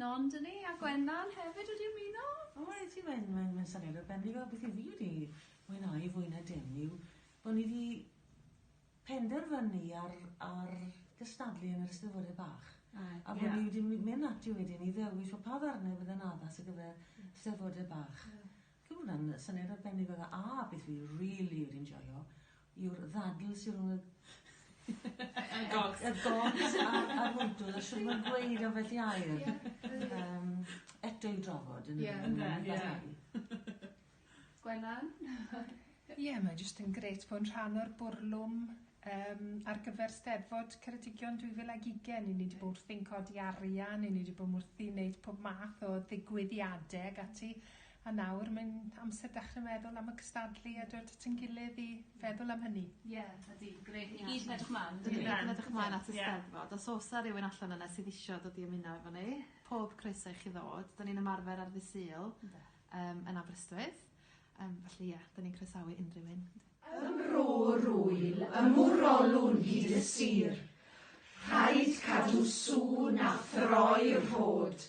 Nondini a Gwennan hefyd wedi ymuno. O reit i Wen Wen mae'n syniad arbennig o beth i fi wedi mwynhau fwy na dim yw bo ni di penderfynu ar ar gystadlu yn yr Eisteddfode bach. A ie. A bo ni wedi my- myn ati wedyn i ddewis o pa ddarne fydde'n addas ar gyfer Steddfode bach. Ie. Fi'n credu bod wnna'n yy syniad arbennig o dda a beth fi rili wedi enjoio yw'r ddadl sy rhwng y y gogs y gogs a'r a'r mwydwd a shwt ma'n gweud ambell i air. Ie. Yym eto i'w drafod yndyfe? Ie. Ynde? Ie. Gwennan? Ie mae jyst yn grêt bod yn rhan o'r bwrlwm yym ar gyfer Steddfod Ceredigion 2020 i ni 'di bo' wrthi'n codi arian i ni 'di bo' wrthi'n neud pob math o ddigwyddiade ag ati A nawr mae'n amser dechre meddwl am y cystadlu a dod at ein gilydd i feddwl am hynny. Ie, ydi. Grêt. Ni gyd yn edrych mlan. Ni gyd yn edrych mlan at y Steddfod. Os o's 'a rywun allan yna sydd isio dod i ymuno efo ni, pob croeso i chi ddod. 'Dan ni'n ymarfer ar ddy' Sul. Ynde. Yym yn Aberystwyth. Yym felly ia, 'dan ni'n croesawu unryw un. Ym Mro Rwyl, ym Mwrolwn hyd y sir, Rhaid cadw sŵn a throi rhod.